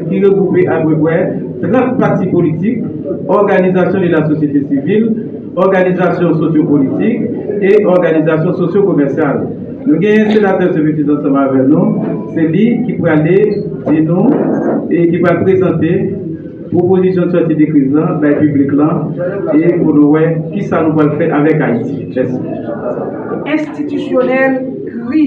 ki regwoupe apwepwè 30 pati politik, òganizasyon de la sosyete sivil, òganizasyon sosyopolitik e òganizasyon sosyokomèsyal. Nou genyen Senatè Sevetus ansanm avè nou, se li ki prale di nou e ki pral prezante pwopozisyon de sòti de kriz lan bay piblik lan e pou nou wè ki sa nou pral fè avèk Ayiti. Mèsi. Enstitisyonèl, CRI.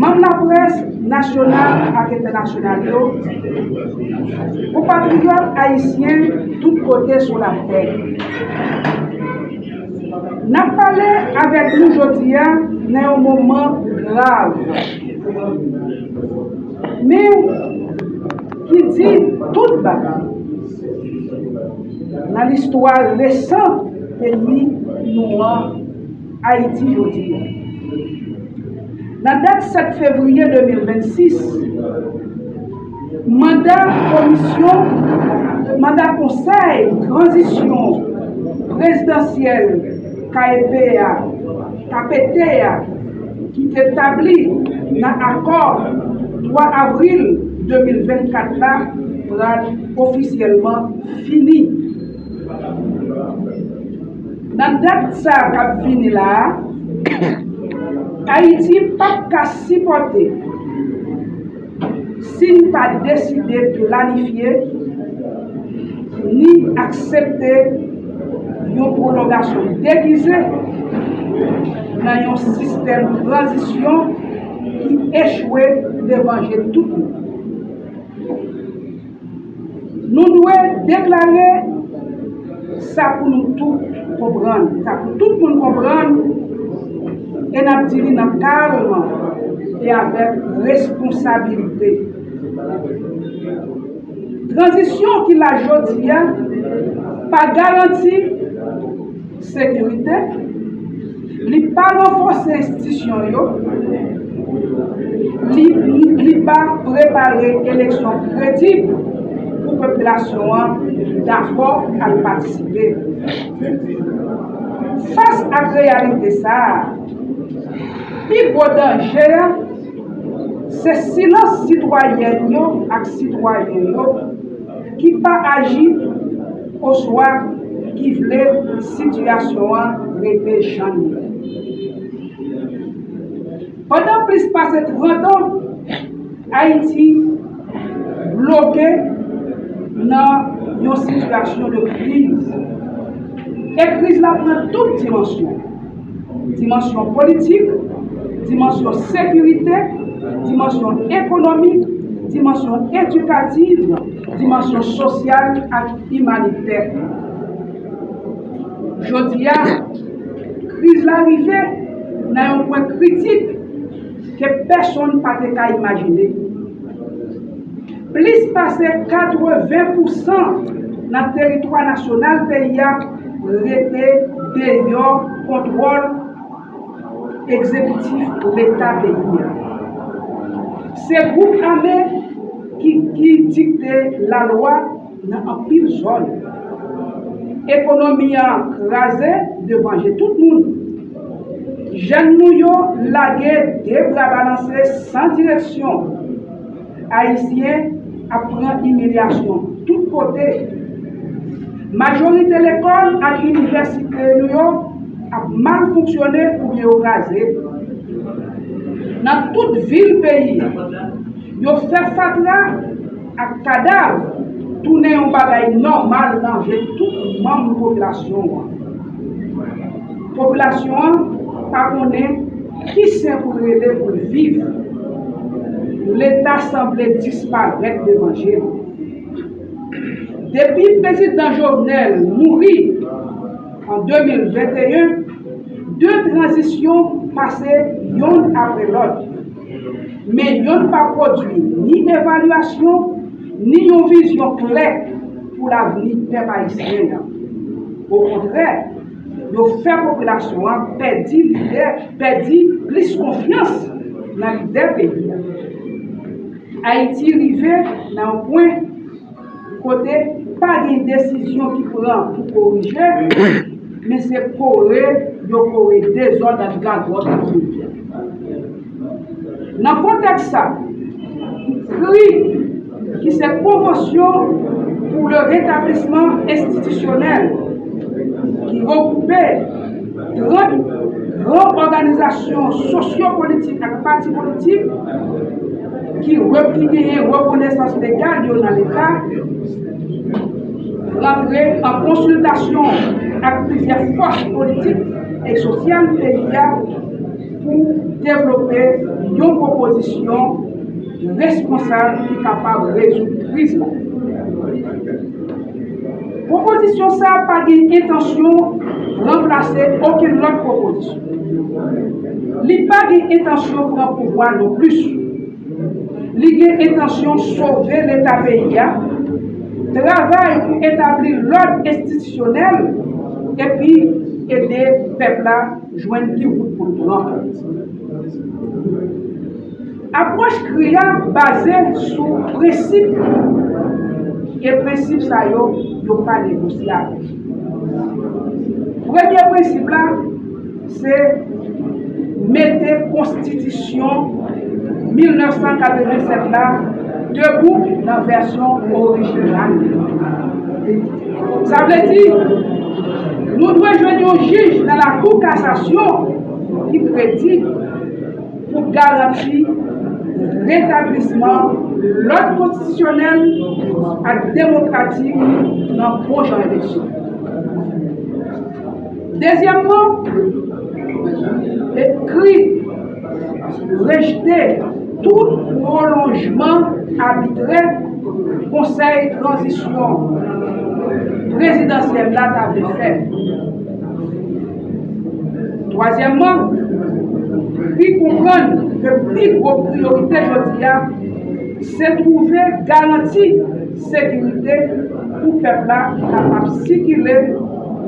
Manm laprès nasyonal ak entènasyonal yo, konpatriyòt ayisyen tout kote sou latè, n ap pale avèk nou jodi a nan yon moman grav, men ki di tout ba nan listwa resan peyi nou an. Ayiti jodi a. Nan dat 7 fevriye 2026, manda komisyon, manda konsèy tranzisyon prezidansyèl KEP a, KPT a, ki te tabli nan akò 3 avril 2024 la pral ofisyèlman fini. Nan dat sa a k ap vini la a, Ayiti pa p ka sipòte si n pa deside planifye ni aksepte yon pwolongasyon degize nan yon sistèm tranzisyon ki echwe devan je tout moun. Nou dwe deklare sa pou nou tout konprann, sa pou tout moun konprann e n ap di li nan kalm e avèk responsabilite. Tranzisyon ki la jodi a pa garanti. Sekirite, li pa ranfòse enstitisyon yo, li pa prepare eleksyon kredib pou popilasyon an dakò al patisipe. Fas ak reyalite sa a, pi gwo danje a, se silans sitwayèn yo ak sitwayen yo. ki pa aji oswa ki vle sitiyasyon an rete jan li ye. Pandan plis pase 30 an, Ayiti bloke nan yon sitiyasyon de kriz, e kriz la pran tout dimansyon. dimansyon politik, dimansyon sekirite, dimansyon ekonomik, dimansyon edikativ, dimansyon sosyal ak imanitè. Jodi a, kriz la rive nan yon pwen kritik ke pèsonn pa te ka imajine. Plis pase 80 pousan nan teritwa nasyonal peyi a rete deyò kontwòl egzekitif leta peyi a. Se gwoup ame ki ki dikte lalwa nan anpil zòn. Ekonomi an kraze devan je tout moun. Jèn nou yo lage de bra balanse san direksyon. Ayisyen ap pran imilyasyon tout kote. Majorite lekòl ak inivèsite nou yo ap mal fonksyone oubyen yo kraze. Nan tout vil peyi a, yo fè fatra ak kadav tounen yon bagay nòmal nan je tout manm popilasyon an. Popilasyon an pa konnen ki sen pou l rele pou l viv. Leta sanble disparèt devan je nou. Depi Prezidan Jovenel mouri an 2021, 2 tranzisyon pase yonn apre lòt. Men youn pa pwodui ni evalyasyon, ni yon vizyon klè pou lavni pèp ayisyen an. Okontrè, yo fè popilasyon an pèdi lidè, pèdi plis konfyans nan lidè peyi a. Ayiti rive nan yon pwen. Kote pa gen desizyon ki pran pou korije, men se kore yo kore dezòd ak gagòt nan peyi a. Nan kontèks sa, CRI, ki se Konvansyon pou le Retablisman Enstitisyonèl, ki regwoupe 30 gran òganizasyon sosyo-politik ak pati politik, ki genyen rekonesans legal yo nan Leta, rantre an konsiltasyon ak plizyè fòs politik e sosyal peyi a pou devlope yon pwopozisyon responsab ki kapab rezoud kriz la. Pwopozisyon sa pa gen entansyon ranplase okenn lòt pwopozisyon. Li pa gen entansyon pran pouvwa non plis. Li gen entansyon sove leta peyi a, travay pou etabli lòd enstitisyonèl epi ede pèp la jwenn ki wout pou l pran. Apwòch kri a baze sou prensip e prensip sa yo, yo pa negosyab. Premye prensip la se mete konstitisyon 1987 la debou nan vèsyon orijinal li. Sa vle di, nou dwe jwenn yon jij nan lakou kasasyon ki kredib. pou garanti retablisman lòd konstitisyonèl ak demokratik nan bon jan eleksyon. Dezyèmman, ekri rejte tout pwolonjman abitrè konsèy tranzisyon prezidansyèl la ta vle fè. Twazyèmman, li konprann ke pi gwo priyorite jodi a se twouve garanti sekirite pou pèp la kapab sikile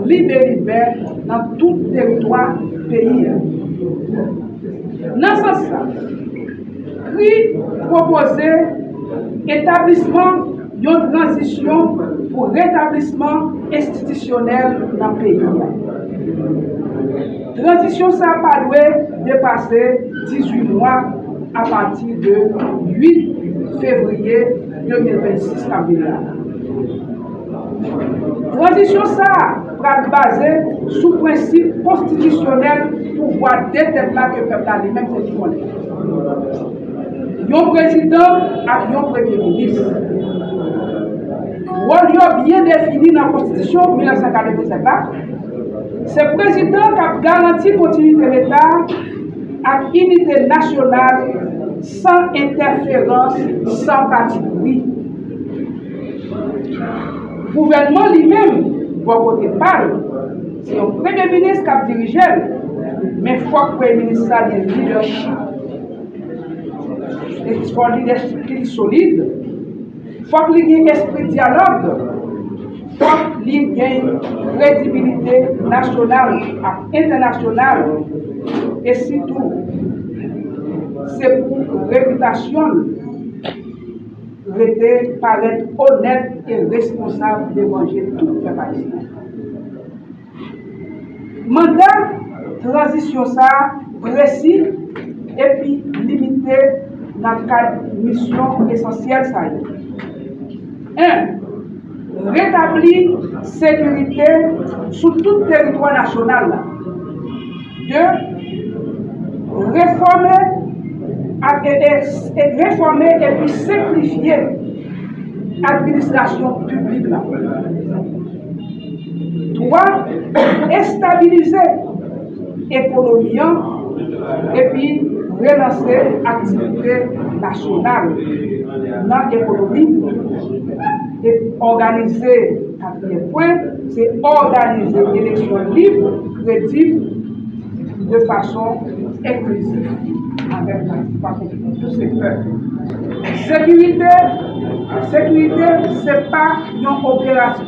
libelibè nan tout teritwa peyi a. Nan sans sa, CRII pwopoze etablisman. yon tranzisyon pou retablisman enstitisyonèl nan peyi a. Tranzisyon sa a pa dwe depase 18 mwa apati de 8 fevriye 2026 k ap vini la. Tranzisyon sa a pral baze sou prensip konstitisyonèl pouvwa 2 tèt la ke pèp la li menm te di konnen. Yon prezidan ak yon premye minis, wòl yo byen defini nan konstitisyon 1987 la, se prezidan k ap garanti kontinite leta ak inite nasyonal san entèferans, san patipri. Gouvènman li menm, bò kote pa l, se yon premye minis k ap dirije l, men fòk premye minis la gen lidèchip. Fòk li gen estrikti ki solid, fòk li gen espri dyalòg, fòk li gen kredibilite nasyonal ak entènasyonal e sitou se pou repitasyon l rete parèt onèt e responsab devan je tout pèp ayisyen. Manda tranzisyon sa a presi epi limite nan kad misyon esansyèl sa yo, 1 Retabli sekirite sou tout teritwa nasyonal la 2 Refòme epi senplifye administrasyon piblik la. Dwa estabilize ekonomi an epi relanse aktivite nasyonal nan ekonomi e òganize Katriyèm pwen se òganize eleksyon lib, kredib de fason enklizif avèk patisipan konpetans tout sektè. Sekirite Sekirite se pa yon operasyon.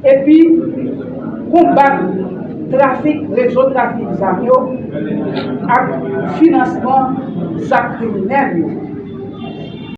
epi konbat trafik rezo trafik zam yo ak finansman zak kriminèl yo.